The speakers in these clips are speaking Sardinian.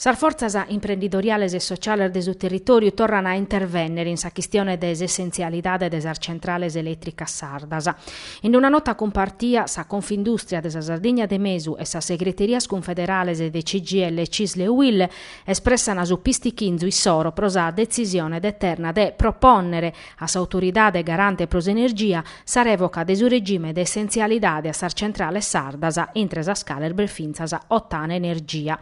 Sas fortzas imprendidoriales e sociales de su territòriu torran a intervènnere in sa chistione de s'essentzialidade de sas centrales elètricas sardas. In una nota cumpartia, sa Confindùstria de sa Sardigna de Mesu e sas segreterias cunfederales de CGIL, Cisl e UIL espressan su pistichinzu issoro pro sa detzisione de Terna de propònnere A s'Autoridade garante pro s'energia, sa rèvoca de su regime de essentzialidade a sas centrales sardas, intre sas cales b'est fintzas Ottana Energia.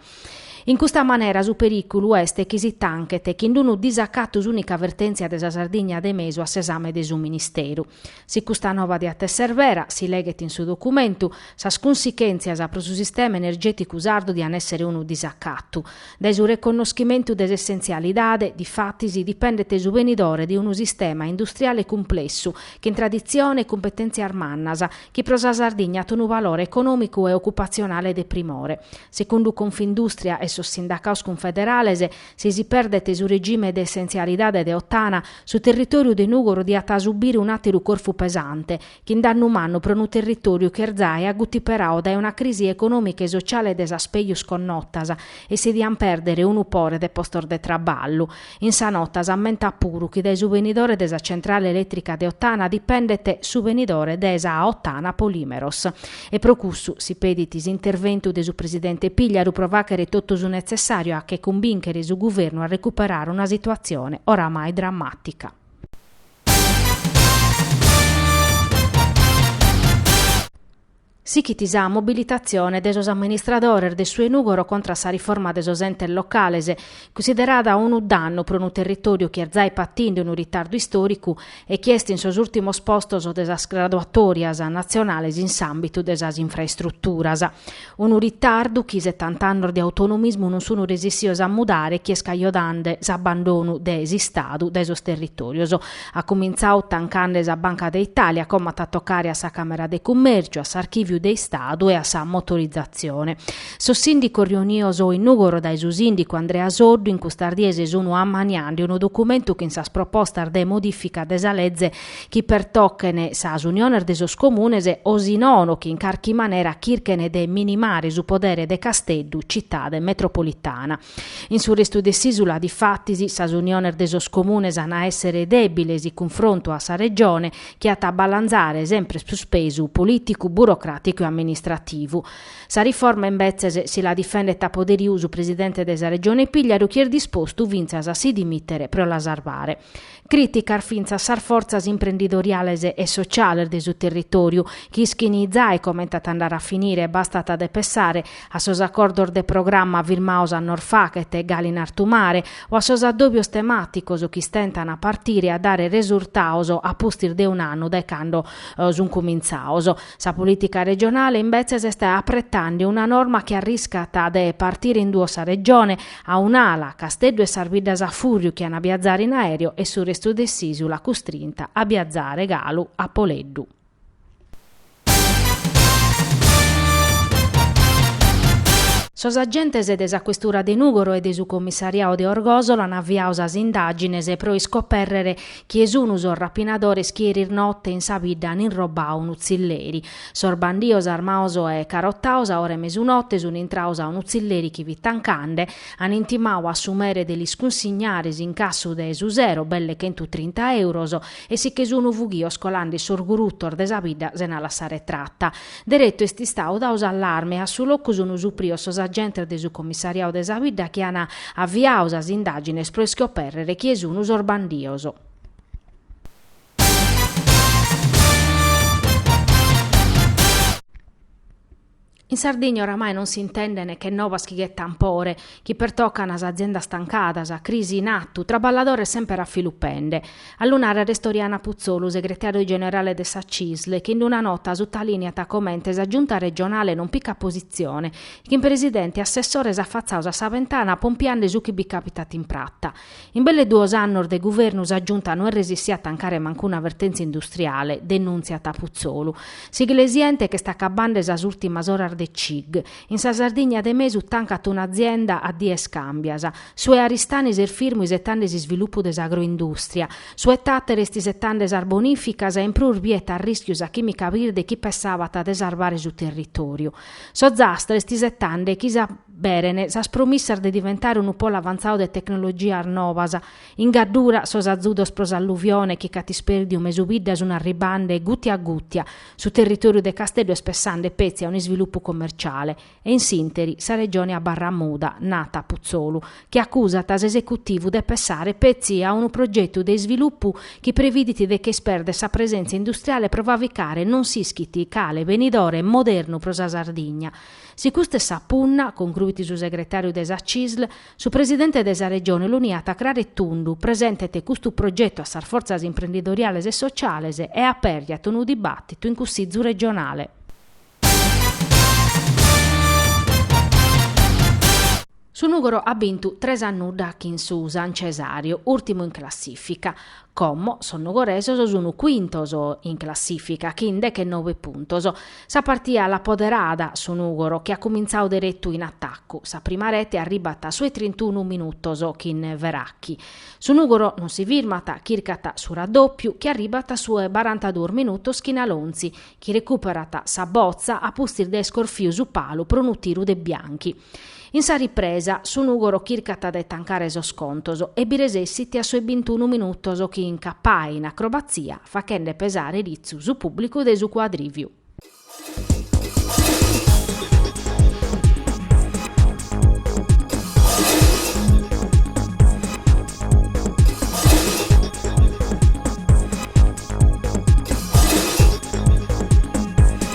In custa manera su perìculu est chi si tanchet chin unu disacatu s'ùnica vertèntzia de sa Sardigna de mesu a s'esame de su Ministeru. Si custa nova diat èssere vera, si leghet in su documentu, sas cunsichèntzias pro su sistema energèticu sardu dian èssere unu disacatu. Dae su reconnoschimentu de s'essentzialidade, difatis, dipendet su benidore de unu sistema industriale cumplessu, chin traditzione e cumpetèntzias mannas, chi pro sa Sardigna at unu valore econòmicu e ocupatzionale de primore. Segundu Confindustria e sos sindacados cunfederales, si si perdet su regime de essentzialidade de Ottana, su territòriu de Nùgoro diat subire un'àteru corfu pesante, chin dannu mannu pro unu territòriu chi est zai agutiperadu dae una crisi econòmica e sociale de sas pegius connotas, e si diant pèrdere unu pore de postos de traballu. In sa nota s'ammentat puru chi dae su benidore de sa centrale elètrica de Ottana dipendet su benidore de sa Ottana Polímeros. E pro cussu si pedit s'interventu de su presidente Pigliaru pro fàghere totu su netzessàriu a che cumbìnchere su guvernu a recuperare una situatzione oramai drammàtica. Sighit sa mobilitatzione de sos amministradores de su 'e Nùgoro contra a sa riforma de sos entes locales, cunsiderada unu dannu pro unu territòriu chi est zai patinde unu ritardu istòricu e chi est in sos ùrtimos postos de sas graduatòrias natzionales in s'àmbitu de sas infraestruturas. Unu ritardu chi setant'annos de autonomismu non sunu resessios a mudare chi est cajonande s'abbandonu de s'Istadu dae sos territorios. At cumintzadu tancande sa Banca de Italia, como at a tocare a sa Camera de Cummèrciu, a s'Archiviu de Istadu e a sa Motorizatzione. Sos sindicos riunios in Nugoro dae su sindicu Andrea Soddu in custas dies sunu ammaniande unu documentu chin sas propostas de modifica de sa Leze chi pertochen sas uniones de sos comunes o si nono chi in carchi manera chirchen de minimare su podere de Casteddu citade metropolitana. In su restu de s'Ìsula, difatis, sas uniones de sos comunes an a èssere dèbiles in cunfrontu a sa Regione chi at a balanzare sempre prus pesu polìticu, burocràticu e amministrativu. Sa riforma, imbetzes, si la difendet a poderiu su presidente de sa Regione Pigliaru chi est dispostu fintzas a si dimìtere pro la sarvare. Crìticas finzas sas fortzas imprendidoriales e sociales de su territòriu, chi ischin zai comente at a andare a finire, bastat a de pessare a sos acordos de programma firmados a nos fachet galu in artu mare, o a sos addòbios temàticos chi istentan a partire e a dare resurtados a pustis de un'annu dae cando sunt cumintzados. Sa polìtica regionale, imbetzes, est apretande una norma chi arriscat de partire in duos sa Regione, A un'ala, Casteddu e sas biddas a fùrriu chi an a biazare in aereo e su restu de s'ìsula custrinta a biazare galu a poleddu. Sos agentes de sa questura de Nùgoro e de su commissariadu de Orgòsolo an aviadu sas indàgines pro iscopèrrere chie sun sos rapinadores chi eris note in sa bidda an inrobadu unu tzilleri. Sos bandios armaos e carotaos a ora 'e mesunote sun intraos a unu tzilleri chi fit tancande, an intimadu a su mere de lis cunsignare s'incassu de su sero, belle chentu trinta euros, e si che sun fughios colande·si in sos gurutos de sa bidda sena lassare trata. Deretu est istadu dadu s'allarme e a su locu sun suprios sos agentes de su comissariadu de sa bidda chi an aviadu sas indagines pro iscoperrere chie sun sos bandios. In Sardigna oramai non si intenden che novas chi ghetan pore, chi pertocan a aziendas tancadas, crisi in attu, traballadores semper afilupende. A lu narrere est Oriana Putzolu, segretariu generale de sa Cisl, chi in una nota sutaliniat comente sa Giunta regionale non picat positzione, chin presidente e assessores affatzados a sa bentana pompiande su chi bi capitat in prata. In belle duos annos de guvernu sa Giunta no est resissia a tancare mancuna vertèntzia industriale, denùntziat Putzolu. S'Iglesiente ch'est acabande sas ùrtimas oras de Cig. In sa Sardigna de mesu tancat un'azienda a dies càmbias. Su 'e Aristanis est firmu isetande s'isvilupu de s'agroindùstria. Su 'e Tàtari est isetande sas bonìficas e in prus biet a rìschiu sa chìmica birde chi pessabat de sarvare su territòriu. S'Ozastra est isetande chi s'a beren sas promissas de diventare unu polo avantzadu de tecnologias nobas. In Gaddura sos azudos pro s'alluvione chi ch'at ispèrdiu mesu biddas sun arribande gùtia a gùtia, su territòriu de Casteddu est pessande petzi a un'isvilupu commerciale e in s'interi sa Regione abarrat muda, narat Putzolu, chi acusat s'esecutivu de pessare petzi a unu progetu de isvilupu chi previdit de che ispèrder sa presèntzia industriale pro fravicare non s'ischit cale benidore modernu pro sa Sardigna Si custa est sa punna, concruit su segretàriu de sa CISL, su presidente de sa Regione lu niat craru e tundu, presentet custu progetu a sas fortzas imprendidoriales e sociales e apèrjat unu dibàtitu in Cussìgiu regionale. Su Nùgoro at bintu tres a nudda chin su San Cesàriu, ùrtimu in classìfica. Como sos nugoresos sun cuintos in classìfica chin dechenobe puntos, sa partia l'at poderada su Nùgoro chi at cumintzadu deretu in atacu. Sa prima rete arribbat a su 'e trintunu minutos chin Veracchi. Su Nùgoro non si firmat, chircat su raddòpiu chi arribbat a su 'e barantaduos minutos chin Alonzi chi recuperat sa botza a pustis de iscorfiu su palu pro unu tiru de Bianchi. In sa ripresa, su Nùgoro chircat de tancare sos contos e bi resessit a sos bintunu minutos chin Cappai in acrobatzia fachende pesare ritzu su pùblicu de su cuadrìviu.